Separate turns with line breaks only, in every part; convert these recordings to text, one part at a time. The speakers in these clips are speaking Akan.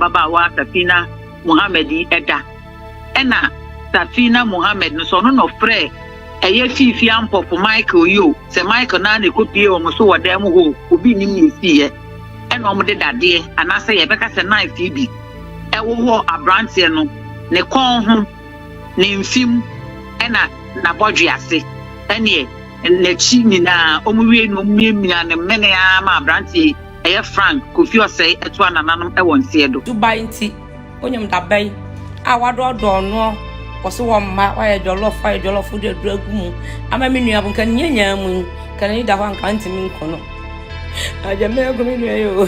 babaawa Safina Mohammed yi da. Ɛna Safina Mohammed no so ɔno na ɔfrɛɛ ɛyɛ fiifii ampɔfo Michael yi o, sɛ Michael no ara na ɛkɔpie wɔn so wɔ dan mu hɔ o, obi nnim nea ɛsiiɛ. Ɛna wɔde dadeɛ anaasɛ yɛbɛka sɛ knife yi bi ɛwowɔ aberanteɛ no ne kɔn ho, ne mfe mu, ɛna n'abɔdwe ase, ɛneɛ n'akyi nyinaa. Wɔwiei no wɔmiamiaa no mene ara maa aberanteɛ yi. Ɛyɛ Frank Kofi Osei ɛtoa nananom ɛwɔ nseɛ do. Dubai nti
wonyim da bɛn a wadɔɔdɔɔ noɔ wɔse wɔmma wayɛ jɔlɔf wayɛ jɔlɔf wode aduro agu mu ama me nua bo nka ne nyanyaa mu yi nka n'ani da hɔ anka ntimi nko no agya me agu me nua yi o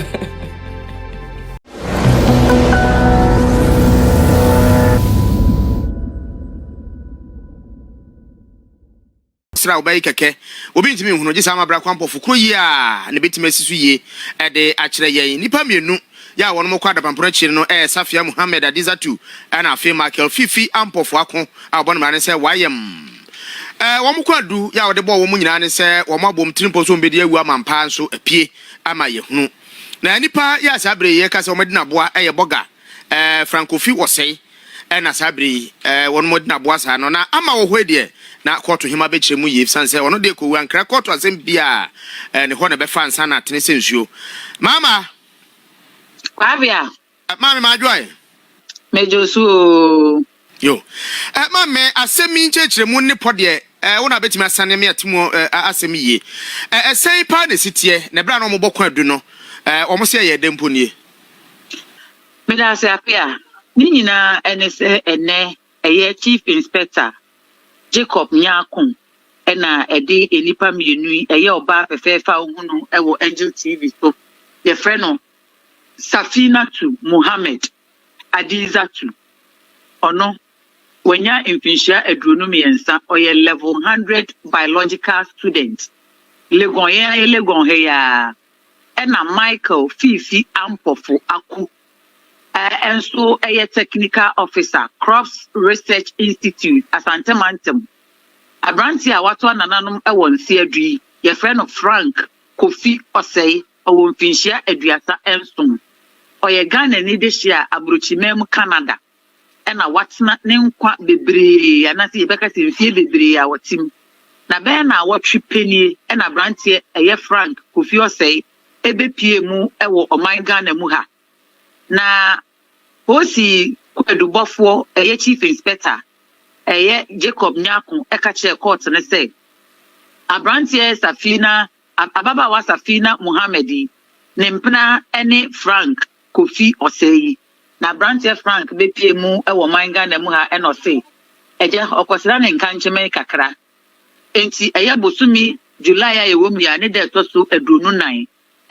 Sra a wobɛye kɛkɛ, obi ntumi nhunu, gye saa amabra kwampɔfo koro yi a na ebetumi asi so yie de akyerɛ yɛn. Nnipa mmienu yi a wɔnom kɔ adapampono akyiri no ɛyɛ Safia Muhammad Adizatu ɛna afei Michael Fifi Ampofo Ako a wɔbɔ no mmara ne sɛ Wayem. Ɛɛ wɔn kɔ adu yi a wɔde bɔɔ wɔn nyinaa ne sɛ wɔn abom tiri mpɔ so wɔn bedi awu ama mpaa nso apue ama yɛhunu. Na nnipa yi a saa bere yi yɛka sɛ wɔn adi no aboa ɛyɛ Bɔga, ɛɛ Frankofi Wɔsɛe, Ɛna saa bere yi wɔn mo gyina boa saa no na ama wɔ hɔ yi deɛ na kɔɔto hema bɛkyerɛ mu yie efisane sɛ ɔno deɛ kɔwu ankra kɔɔto asɛm biaa ne hɔ na ɛbɛfa nsa na atene sɛ nsuo. Mama.
Kwabea. Maame
ma adwoae. Medwo so oo.
Yo.
Maame asɛm yi nkyerɛkyerɛ mu ne pɔ deɛ wo na bɛtumi asane me ate mu asɛm yie. Ɛsɛn paa na ɛsiteɛ na ɛberɛ a na wɔn bɔ kwan adu no wɔn se ɛyɛ ɛdɛ mpo nie.
Meda ase Apea. Ne nyinaa ne sɛ ɛnnɛ ɛyɛ Chief Inspector Jacob Nyarko na ɛde nnipa mmienu yi, ɛyɛ ɔbaa fɛfɛɛfɛ a wohu no wɔ Angel TV so, yɛfrɛ no Safinatu Mohammed Adizatu. Ɔno, wanya mfinhyia aduonu mmiɛnsa, ɔyɛ Level 100 Biological student. Legon, yɛn ayɛ Legon ha yi ara. Ɛna Michael Fifi Ampofo Aku a ɛnso ɛyɛ Technical Officer, Crops Research Institute, Asante Mantam. Aberanteɛ a wato anananom wɔ Nseadu yi, yɛfrɛ no Frank Kofi Osei, ɔwɔ mfinhyia aduasa nson. Ɔyɛ Ghanani dehye a abrokyiman mu Canada. na watena ne nkwa bebree anaasɛ yɛbɛka sɛ mfeɛ bebree a ɔte mu. Na bɛyɛ nnawɔtwe pɛ nie na aberanteɛ ɛyɛ Frank Kofi Osei ɛbɛpuee mu wɔ ɔman Ghana mu ha. Na Polisi kwaadubɔfoɔ ɛyɛ Chief Inspector ɛyɛ Jacob Nyarko ɛka kyerɛɛ kɔɔto no sɛ aberanteɛ Safina Ababaawa Safina Mohammed yi, ne mpena ne Frank Kofi Osei. Na aberanteɛ Frank bɛpuee mu wɔ ɔman Ghana mu ha na ɔse agya ɔkɔsra ne nkankyeme kakra. Enti ɛyɛ bosome July a yɛwɔ mu yi ara ne da a ɛtɔ so aduonu nan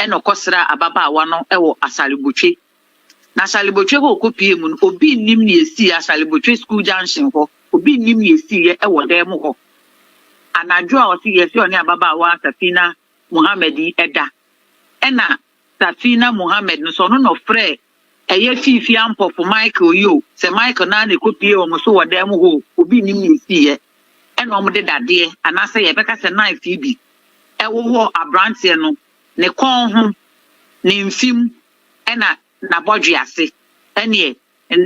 na ɔkɔsraa ababaawa no wɔ Asare Botwe Na Asalibotwe hɔ a ɔkɔpuee mu no, obi nnim nea ɛsiiɛ, Asalibotwe School Junction hɔ, obi nnim nea ɛsiiɛ wɔ dan mu hɔ. Anadwo a ɔse yɛse ɔne ababaawa Safina Mohammed yi da, ɛna Safina Mohammed no, sɛ ɔno na ɔfrɛɛ ɛyɛ Fiifi Ampɔfo Michael yi o, sɛ Michael no ara na ɛkɔpuee wɔn so wɔ dan mu hɔ o, obi nnim nea ɛsiiɛ. Ɛna wɔde dadeɛ, anaasɛ yɛbɛka sɛ knife yi bi, ɛwowɔ aberanteɛ no ne kɔn ho, ne mfem Ɛna n'abɔdwe ase, ɛneɛ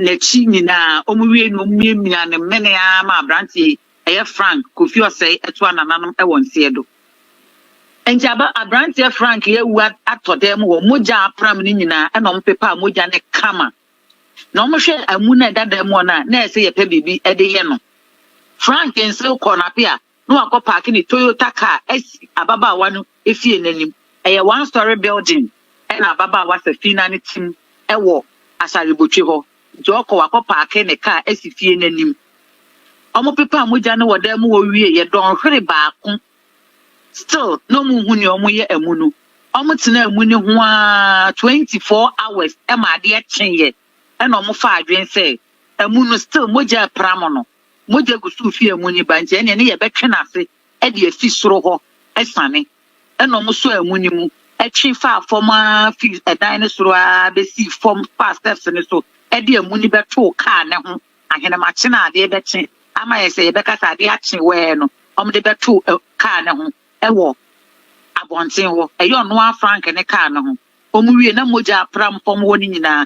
n'akyi nyinaa, wɔn wiei no wɔn miamia no mene ara ma abranteɛ yi, ɛyɛ Frank Kofi Osei ɛtoa nananom ɛwɔ nseɛ do. Nti aba abranteɛ Frank yi awu atɔ dan mu hɔ, mogya a apram no nyinaa ɛna wɔn pepaa mogya no kama. Na wɔn hwɛ amu no a ɛda dan mu hɔ no a, na ɛsɛ yɛpɛ biribi ɛde yɛ no. Frank nsew kɔɔ n'apea na wakɔpaake ne Toyota kaa asi ababaawa no fie no anim. Ɛyɛ one storey building na ababaawa Safina no te mu wɔ Asare-Botwe hɔ, nti ɔkɔ wakɔpaake ne kaa asi fie no anim. Wɔpepaa mogya no wɔ dan mu hɔ wieeɛ dɔnhwere baako, still na wɔnhu nea wɔyɛ amu no. Wɔtenaa amu no ho ara twenty four hours ma adeɛ kyeeɛ na wɔfaa adwene sɛ amu no still mogya repra mo no. mogya gu so fi amu no ba nti, ɛnneɛ ne yɛbɛtwe no ase de afi soro hɔ asiane. Ɛnna wɔsɔɔ amu no mu twe faa fam ara firi ɛdan no soro ara bɛsii fam faa stɛps no so de amu no bɛtoo kaa no ho. Ahenemakye no a adeɛ bɛkye ama ayɛ sɛ yɛbɛka sɛ adeɛ akye wɛɛ no, wɔde bɛtoo ɛ, kaa no ho wɔ abɔnten hɔ. Ɛyɛ ɔno ara Frank ne kaa no ho. Wɔwiei na mogya apram fam hɔ no nyinaa.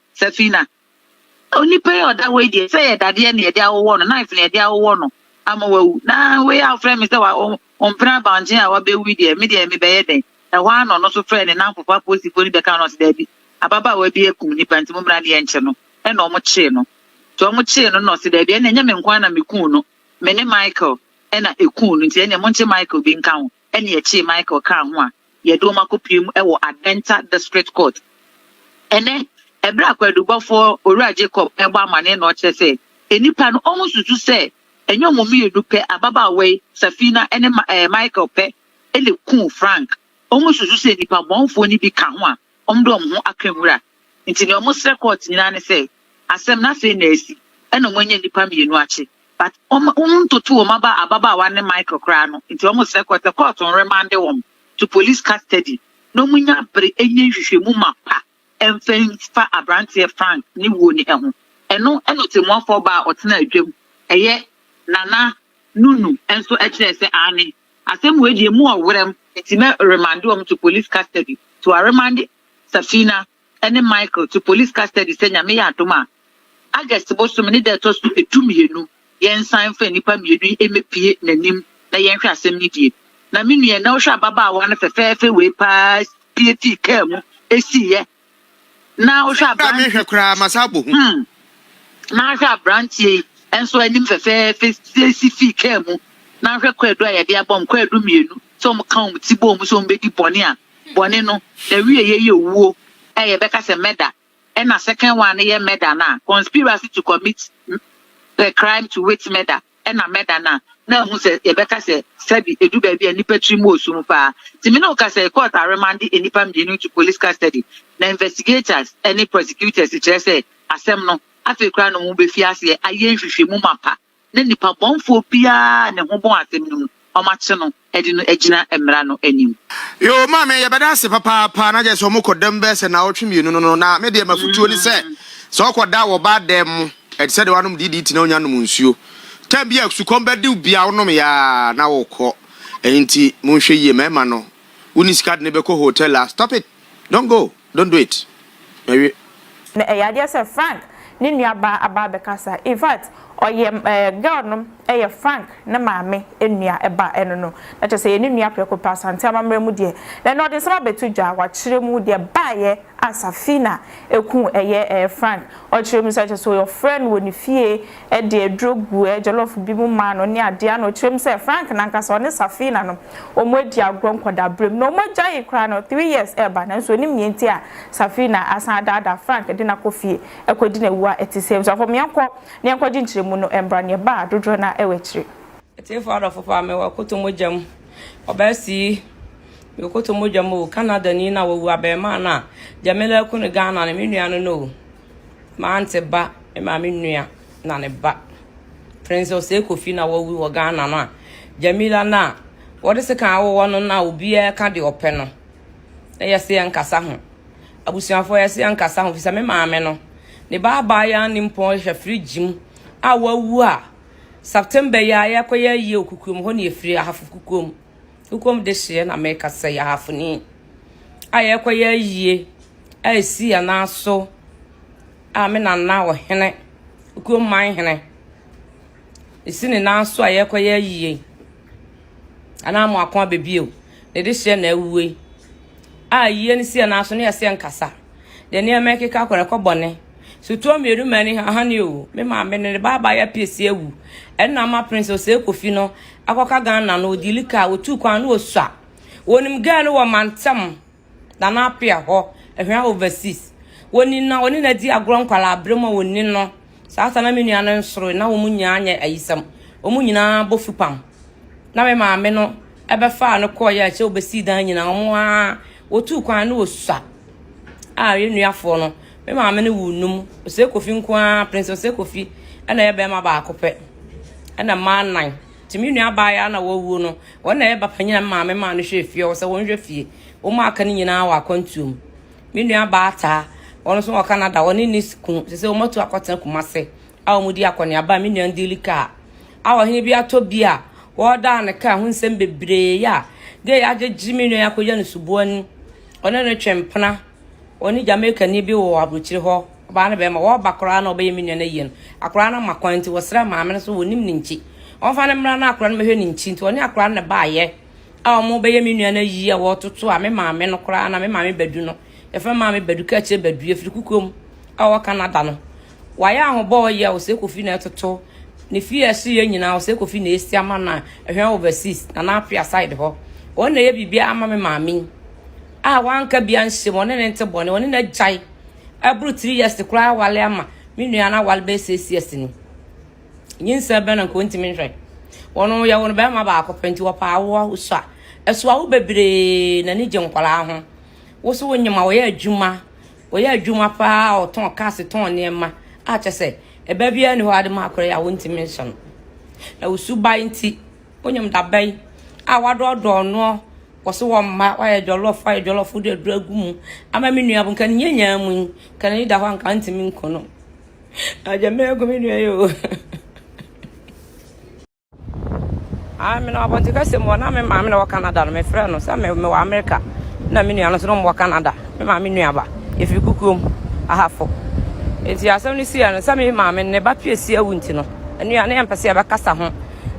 Safina, Onipa yi a ɔda hɔ yi deɛ, sɛ ɛyɛ dadeɛ na yɛde awowɔ no, knife na yɛde awowɔ no ama wawu, na wei a wofrɛ me sɛ wa ɔmpena abankyen a wabɛwu deɛ, me deɛ mebɛyɛ dɛn? Ɛhɔ ara na ɔno nso frɛɛ ne nnamfofo apolisifoɔ no bɛka no ɔse daabi, ababaawa bi akum nipa nti mommra ne yɛnkye no. Ɛna wɔn kyee no. Nti wɔn kyee no na ɔse daabi, ɛna ɛnyɛ me nko ara na mekuu no, me ne Michael ɛna ɛkuu no, nti ɛneɛ monkye Michael bi nka ho. Ɛnna akyiri Michael kaa ho a yɛde wɔn akɔpue mu wɔ Adenta District Court. Ɛnnɛ, bere a kwaadubɔfo Owura Jacob rebɔ amanneɛ na ɔkyerɛ sɛ nnipa no wɔnsusu sɛ ɛnyɛ wɔn mmienu pɛ, ababaawa yi, Safina, ne Michael pɛ na ekum Frank, wɔnsusu sɛ nnipa bɔnefo no bi ka ho a, Wɔn dɔm ho aka wura. Nti nea wɔn srɛ court nyinaa ne sɛ asɛm no afei na asi ɛna wɔn anya nnipa mmienu akye but wɔn wɔn ntoto wɔn aba ababaawa ne Michael koraa no nti wɔn srɛ court sɛ court nremande wɔn to police custody na wɔn nya bere ɛnyɛ nhwehwɛmu ma pa ɛmfa nfa abranteɛ Frank ne wuo ne ɛho ɛno ɛna ɔtɛmuafoɔ baa ɔtena adwam ɛyɛ Nana Nunu ɛnso ɛkyerɛ sɛ aane. Asɛm wei deɛ emu ɔwerɛm nti mɛ remande wɔn to police custody to aremande Safina ɛne Michael to police custody sɛ Nyame yɛ adom a August bosome ne da a ɛtɔ so ɛdu mmienu yɛn san mfa nnipa mmienu yi mɛ pie nanim na yɛn hwɛ asɛm no die na me nua ɛnɛ wo hwɛ ababaawa no fɛfɛɛfɛ wei paa pie fii car mu ɛsiiyɛ Na wohwɛ aberanteɛ. Na mehwɛ koraa ma saa
bɔ hu. Hmm.
Na ahwɛ aberanteɛ yi nso anim fɛfɛɛfɛ siesie fii kaa mu. Na ahwɛ kwaadu a yɛde abɔ wɔn kwaadu mmienu sɛ wɔn ka wɔn ti bɔ wɔn sɛ wɔn bɛdi bɔne a bɔne no na wie yɛ yɛ owuo a yɛbɛka sɛ murder ɛna second one no yɛ murder no a conspiracy to commit the crime to wit murder. Ɛna mɛda no a, na ahu sɛ yɛbɛka sɛ sɛbi ɛdu baabi a nnipa tiri mu wɔ sum paa. Nti me ne wo kasa yi, court aremande nnipa mmienu to police custody, na investigators ne prosecutors kyerɛ sɛ asɛm no, afei koraa na wɔn bɛfi aseɛ ayɛ nhwehwɛmu mapa na nnipa bɔnfoɔ biara a ne ho bɔn asɛm no mu, wɔakye no. de no agyina mmara no anim. Yoo maame
yɛbɛda ase papaapa na kyerɛ sɛ ɔmo kɔ dɛm bɛyɛ sɛ naawɔtwe mmienu no no na me deɛ mafutuo ne sɛ sɛ ɔkɔ da wɔ ɔbaa dɛm mo ɛte sɛ deɛ wanom DDT na onya nom nsuo time bi a sukɔm bɛdew bi a wonom yɛ aa na wokɔ ɛyi nti monhwɛ yie mɛɛma no woni sika de no bɛkɔ hotel a stop it don't go. Don't do it. Mawie. Na ɛyɛ adeɛ
sɛ Frank ne nua baa aba abɛkasa infact ɔyɛ eh girl no yɛ Frank ne maame nua ba ɛno no na kyerɛ sɛ ɛyɛ ne nua prɛko pɛ Asante amammerɛ mu deɛ na ɛno ɔde nsɛm abɛto dwa wakyerɛ mu deɛ baeɛ a Safina kuu ɛyɛ eh Frank ɔkyerɛ mu sɛ kyerɛ sɛ ɔfrɛ no wɔ ne fie de aduro guɛ jollof bi mu maa no ne adeɛ a na ɔkyerɛ mu sɛ Frank nankasa ɔne Safina no wɔn adi agorɔ nkwadaa berɛ mu na wɔn agyaee koraa no three years reba nanso ɔnim nea nti a Safina asan adaadaa Frank de no akɔ fie akɔdi no awu a ɛte sɛɛ nso afam yɛnkɔ na yɛnkɔgye nkyerɛmu no mmra nea ɛbaa dodoɔ no ara wɔ akyire. Atiefoɔ adɔfo
paa mewɔ akoto mogya mu ɔbaasii mewɔ akoto mogya mu o Canada ni na wawu abarimaa no a Jamila aku no Ghana no me nua no no o M'aunty ba, me maame nua na ne ba. Prince Osei Kofi na wawu wɔ Ghana no a, Jamila no a wɔde sekan awowɔ no na obiara ka deɛ ɔpɛ no. Na yɛse yɛnkasa ho. Abusuafoɔ yɛse yɛnkasa ho fisɛ me maame no, ne ba abaayewa nimpɔn hwɛ fridge mu a wawu a September yi a yɛkɔyɛ ayie Okukuom hɔ na yɛfiri, Ahafo Kukuom. Wokom dehyeɛ na meka sɛ yɛ ahafoni a yɛkɔyɛ ayie a ɛsi yɛn nan so a me nana ɔhene kurom man hene ɛsi ne nan so a yɛkɔyɛ ayie anaa mo ako abɛbio ne dehyeɛ na awue a yie no si yɛn nan so ne yɛseɛ nkasa de nneɛma ɛkeka kɔ no ɛkɔ bɔne so tuo mmienu ma ani hane o me maame no ne ba aba ya pie si awu ɛno na ama prince ɔsɛ kofi no akɔka ghana no ɔdi lika a ɔtu kwan no ɔsua wɔnim gaa no wɔ mantam na na apea hɔ ɛhwɛ overseas wɔni na ɔne na di agorɔ nkwala abrɛ mu a wɔni no saa sa na me nua no nsoro na wɔn nyinaa nyɛ ayisɛm wɔn nyinaa bɔ fupam na me maame no ɛbɛfaa no kɔɔ yɛ akyɛ wɔbɛsii dan nyinaa wɔn a Wɔtuu kwan no wɔ sua a yɛn nuafoɔ no, me maame no wuu num. Osei Kofi nko ara, Prince Osei Kofi, ɛna ɛyɛ barima baako pɛ, ɛna mmaa nnan. Nti me nua abaayewa na wɔwuo no, wɔn na ɛyɛ bapanyina maame maa no hwɛ fie, ɔwɔ sɛ wɔn hwɛ fie. Wɔn a aka no nyinaa wɔ akwantuo mu. Me nua baa taa, wɔn nso wɔ Canada, wɔne ne kunu, sɛ sɛ wɔn atu akɔtena Kumase. a wɔredi akɔneaba a me nua Ndili kaa a ɔhene bi atɔ bi a wɔredaa no kaa ho nsɛm bebree a gay agyegye me nua yi akɔyɛ no suboani ɔne no twe mpena ɔne Jamaica ni bi wɔ aburokyire hɔ ɔbaa no bɛrima wɔreba koraa na ɔbɛyɛ me nua no ayie no akora no ma kwan nti wɔsrɛ maame no so wɔnim ne nkyi ɔmfa no mmra na akora no mɛhwɛ ne nkyi nti ɔne akora no baayɛ a wɔbɛyɛ me nua no ayie a wɔretoto a me maame no koraa na me maame badu no yɛfrɛ maame badu ka akyire badu yɛfiri kukuom a ɔwɔ Canada no wayɛ ahobɔ ɔyɛ ɔsɛ kofi na ɛtoto ne fie ɛso yɛ nyinaa ɔsɛ kofi na esi ama na ɛhwɛn overseas na na apia side hɔ wɔn na ɛyɛ biribi ama me maame a wanka bi anhyɛ mu ɔne ne nte bɔne ɔne na gyae ɛboro three years koraa awale ama me nua na awale bɛyɛ six years ni nyinsɛ bɛn na nko ntumi nhwɛ wɔn yɛ wɔn bɛrima baako pɛ nti wɔpa awoɔ wosɔ a ɛso awo bebree na ne gye nkwaraa ho woso wonyima wɔyɛ adwuma Ɔyɛ adwuma paa a ɔtɔn cars tɔn nneɛma a kyɛ sɛ ɛba biara ne hɔ ade ma akora yi a wontumi nhyɛ no. Na wo suban nti, wonyam dabɛn a wadɔɔdɔɔ noɔ wɔ so wɔ mma wayɛ jɔlɔf wayɛ jɔlɔf wode aduro agu mu ama me nua bo nka ne nyanyaa mu yi nka n'ani da hɔ a nka ntumi nko no. Agya mɛgu me nua yi o. Ah, me na abɔnten kasa mu na me maame na wɔ Canada no mefrɛ no sɛ me wɔ America na me nua no so no wɔ Canada me maame nuaba efiri kukuom ahafo nti asɛm no sii no sɛ me maame ne ba pie si awu nti no nua ne yɛmpɛ sɛ yɛbɛkasa ho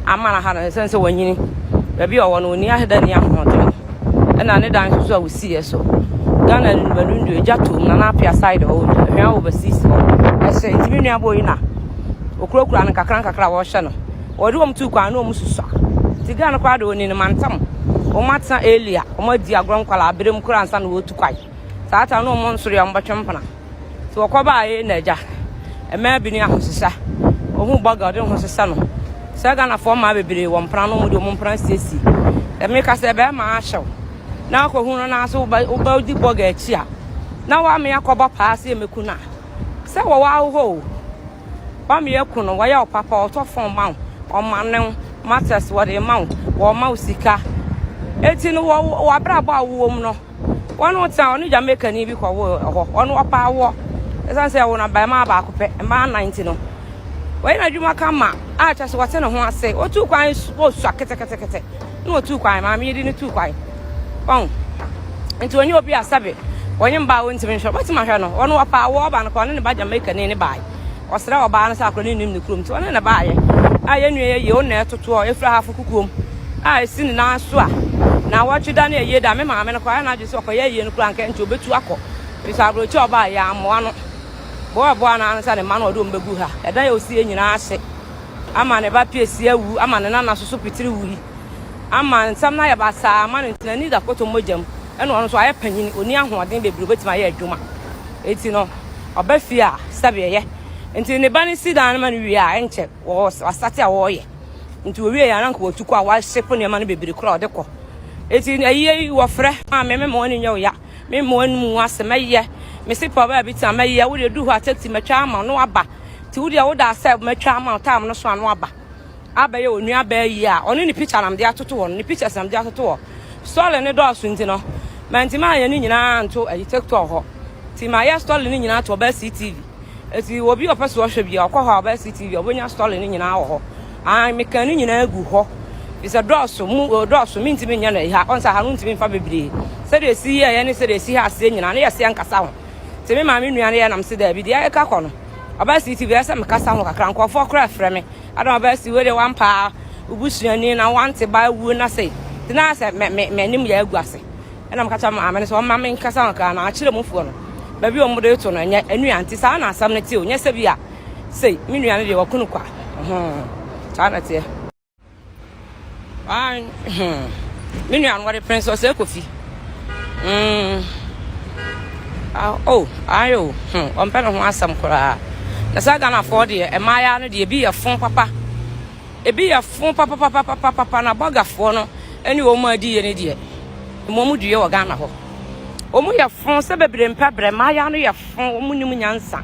ama no ha no sɛ sɛ wɔnyini baabi a ɔwɔ no ɔni aheda ni ahoɔden ɛna ne dan nso so a wosiiɛ so Ghana nnumanundu egya toom na n'apea side hɔ hwɛn a overseas hɔ ɛhyɛ nti me nuabɔ yi na okurakura no kakra nkakra a wɔhyɛ no wɔde wɔn tu kwan na wɔn susua nti Ghana koraa de wɔn mantam wɔn atena elia wɔn adi agorɔ nkwalaa abere mu koraa nsa na wɔtu kwan saa ata na wɔn nsoro yɛ wɔn bɛtwe mpena. Nti wɔkɔbaa yei na agya, mmaa bi ne ahosesa. Ɔhu bɔga ɔde ne ho sesa no. Sɛ Ghanafoɔ mmaa bebree wɔ mpena no, wɔn de wɔn mpena siesie. Sɛ meka sɛ bɛrima ahyɛw na akɔhu no naa so wobɛ di bɔga akyi a, na wame akɔbɔ paa sɛ yɛmɛku no a. Sɛ wɔwɔ ahohɔ o, wame aku no, wɔyɛ wo papa, wɔtɔ fɔn ma wo, wɔmane wo, matters wɔde ma wo, wɔma wo sika. Eti no wɔ wɔ abrabɔ a wowɔ mu no. wɔn no tena ɔne jamaica ni bi kɔ wo ɛhɔ ɔno ɔpa awoɔ ɛsan sɛ ɛwo no abarimaa baako pɛ mmaa nnan nti no wɔyɛ n'adwuma ka ma a kyɛ sɛ wɔte ne ho ase otu kwan osua ketekete na otu kwan maame yi de ne tu kwan ɔn nti onye obi asabe wɔnye mbaa wɔntumi nhwɛ wɔbɛtumi ahwɛ no ɔno ɔpa awoɔ ɔba no kɔ ɔne ne ba jamaica ni ne baa Ɔsrɛɛ ɔbaa no sɛ akora no nnim ne kurom nti ɔne no baeɛ a yɛn nua yɛ yie wo na ɛtotoɔ a ɛfiri ahafo kukuom a ɛsi ne nan so a na wɔtwe da ne ayie da me maame no kɔ ayɛ n'adwene sɛ ɔkɔyɛ ayie no kora nka nti ɔbɛtu akɔ firi sɛ aborɔkyi a ɔbaa yɛ ammoa no boaboa no ano sɛ ne mma no ɔde wɔn bɛgu ha ɛdan a ɔsiiɛ nyinaa ase ama ne ba pie si awu ama ne nana soso pitiri wui ama nsɛm no ayɛ basaa ama no ntina ni da kɔtɔ mogya mu Ɛna ɔno nso ayɛ panyin, onni ahoɔden bebree a obetumi ayɛ adwuma. Enti no, ɔba fie a, sɛbe yɛ. Enti ne ba no si dan no ma no wie a, ɛnkyɛ wɔasate a wɔreyɛ. Enti wɔwiei a, na anka wɔatu kɔ a wɔahyepo nneɛma no bebree koraa a wɔde kɔ. Enti ayiye yi wɔfrɛ, Maame, memma w'ani nyɛ wo ya, memma w'anom ngu ase, mɛyɛ. Mese Paul baabi tena, mɛyɛ. Wo deɛ, du hɔ a, taxi mɛtwa ama wo na woaba. Enti wo deɛ, wo da ase a, mɛtwa ama wo, time no so a na woaba. abɛyɛ wɔn nuabaa yie a ɔne ne picture nam de atoto hɔ no ne pictures nam de atoto hɔ story ne dɔɔso nti no mantimi anyɛ ne nyinaa nto ayi tiktok hɔ nti mayɛ story ne nyinaa to ɔbaa ctv nti obi ɔpɛ so ɔhwɛ bia ɔkɔ hɔ a ɔbaa ctv ɔbɛnya story ne nyinaa wɔ hɔ an meka ne nyinaa gu hɔ bisɛ dɔɔso mu dɔɔso mentimi nyɛ no ɛha ɔnsa ha no ntimi mfa bebree sɛdeɛ ɛsi yɛɛyɛ ne sɛdeɛ ɛsi ha aseɛ nyinaa ne yɛseɛ nkasa ho nti me maame nua no yɛ nam se daabi deɛ ɛka kɔ no Ɔbaa si ti bia sɛ mekasa ho kakra nkurɔfoɔ koraa frɛ me adama ɔbaa si wei deɛ wampaa wobusuani na wante ba awuo na sei nti na sɛ m'anim yɛ agu ase ɛna meka kyerɛ maame no sɛ ɔma me nkasa ho kakra na akyerɛ mu foɔ no baabi a wɔde to no ɛnyɛ anua nti saa na asɛm no te o nyɛ sɛ bi a sei me nua no deɛ wakunu kwa saa na teɛ Ayi, hmm. Me nua no wɔde pene sɛ ɔsɛ kofi. Mm. Ah, oh, ayi o, hmm. Ɔmpɛ ne ho asɛm koraa. Na saa Ghanafoɔ deɛ, mmaayaa no deɛ, ebi yɛ fon papa. Ebi yɛ fon papapapapapa na bɔgafoɔ no ɛne wɔn mu adi yɛ ne deɛ. Emu ɔmo due wɔ Ghana hɔ. Ɔmo yɛ fon sɛ bebree mpɛ brɛ. Mmaayaa no yɛ fon, ɔmo nim nyansa.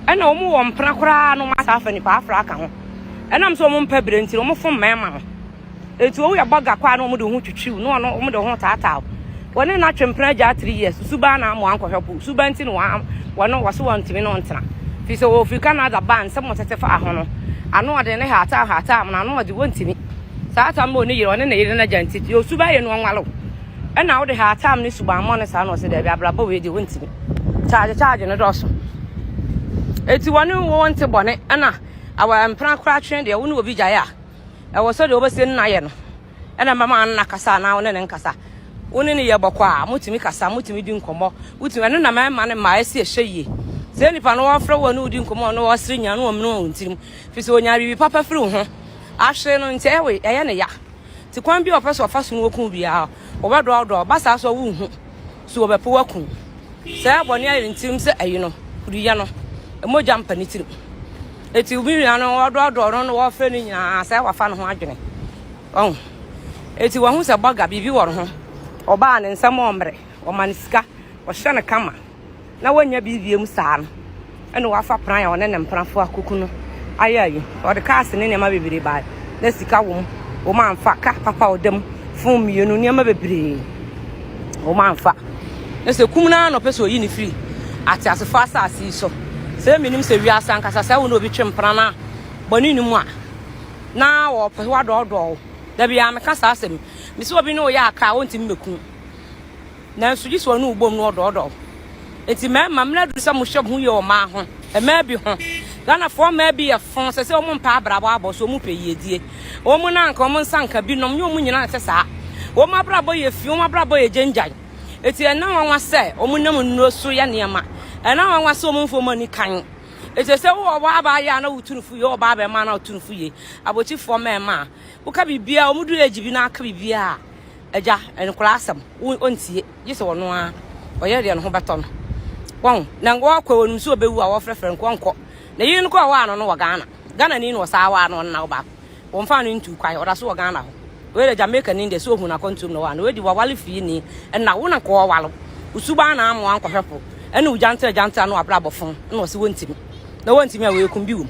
Ɛna ɔmo wɔ mpena koraa no, ɔmo asa afa nipa afra aka ho. ɛnam sɛ wɔn mpɛ bere nti wɔn fom mmarima no eti owu yɛ bɔga kwa na wɔn de ho twitwiw na wɔn wɔn de ho taataaw wɔne no atwe mpena gya three years susuba na amoa nkɔhwɛ po suba nti na wɔn wɔn wɔso wɔn ntumi na ɔntena fi sɛ wɔfiri canada ban nsɛm wɔn tete fa ho no ano ɔde ne haataa haataa mo na ano ɔde wɔn ntumi saa tam bɔ ne yere ɔne ne yere na gya nti yɛ suba yɛ no ɔnwalo ɛna ɔde haataa mo ne suba mmɔ ne saa na ɔsɛ dɛbi abrabɔ wei de wɔn ntumi kyaagye kyaagye ne dɔɔso eti wɔne wɔn te bɔne ɛna aware mpena koraa twe deɛ wo ne obi gyae a ɛwɔ sɛ deɛ wobɛsɛ nna yɛ no ɛna mɛma nna kasa anaa wo ne ne nkasa wo ne ne yɛ bɔkɔ a motumi kasa motumi di nkɔmmɔ wotumi ɛno na mɛma ne mmaa asi ɛhyɛ yie sɛ nipa no wɔfrɛ wɔ ne wodi nkɔmmɔ ne wɔsere nya ne wɔmene wɔn tirim firi sɛ ɔnya biribi papa firi wo ho ahwere no nti ɛwe ɛyɛ ne ya ti kwan bi a ɔpɛ sɛ ɔfa so no wɔku biara wɔbɛdɔɔdɔɔ ba saa so a wonhu So wɔbɛpow akum wo? Sɛ bɔne ayɛ ne tirim sɛ ayi no, wode yɛ no, mogya mpa ne tirim. Eti wo nua no wɔdɔɔdɔɔ no na wɔfrɛ no nyinaa sɛ wafa ne ho adwene. Ɔho. Eti wɔahu sɛ bɔga, biribi wɔ ne ho. Ɔbaa ne nsɛm ɔmmere, ɔma no sika, ɔhyɛ no kama. na wannya bi wiem saa no, ɛnna wafa pran a ɔne ne mprafo a kuku no ayɛ ayi. Ɔde kaase ne nneɛma bebree bae. Na sika wom. Wɔamfa ka papa a ɔda mu, fon mmienu, nneɛma bebree. Wɔamfa. Na sɛ kum no ara na ɔpɛ sɛ oyi no firi ateasefo asase yi so. Sɛ menim sɛ wiase ankasa sɛ wo na obi twe mpena no a bɔne no mu a, na wɔpɛ wadɔɔdɔɔ wo. Da biara meka saa asɛm. Mesɛ obi ne wo yɛ aka a, ɔntumi mmɛku wo. Nanso gyese ɔne wo bom na ɔdɔɔdɔɔ wo. Enti mmarima mmerɛ aduru sɛ mohyɛ moho yie wɔ mmaa ho. Mmaa bi ho. Ghanafoɔ mmaa bi yɛ fo sɛ sɛ wɔn mpɛ abrabɔ abɔ so wɔn pɛ yiedie. Wɔn na anka wɔn nsa nka bi nom nyɛ wɔn nyinaa nte saa. Wɔn abrabɔ yɛ fi, wɔn abrabɔ yɛ gyangyan. Enti ɛna nwanwa sɛ wɔn nam nnuro so yɛ nneɛma. Ɛna nwanwa sɛ wɔn mfa wɔn ani kan. Eti sɛ wowɔ ɔbaa baa yɛ a na wotu no fo yie, wowɔ ɔbaa bɛrima a na wotu no fo yie. Abɔkyifoɔ mmarima a woka biribiara wɔn du age bi na aka biribiara. Agya, nkwadaa asɛm ɔntie, gye sɛ ɔno ara ɔyere deɛ ne ho bɛtɔ no. Wɔn na wɔkɔ wɔn nso ɔbɛwu a wɔfrɛfrɛ no wɔnkɔ. Na yiri no kɔ ɔwɔ ano no wɔ Ghana. Ghana ni na ɔsaa wɔ ano ɔno na ɔba. Wɔn fa no ntu kwan ɔda so wɔ Ghana hɔ. Wei de Jamaica ni deɛ so ohun akɔntuom na ɔwɔ ano. Wei de wɔwale fii ni ɛna wo na nkɔ ɔwalo. Ɔsubaa na amoa nkɔhwɛfo ɛne ɔgyantra gyantra no abrabɔ fon na ɔsi wɔntimi. Na wɔntimi a wei kumbi wom.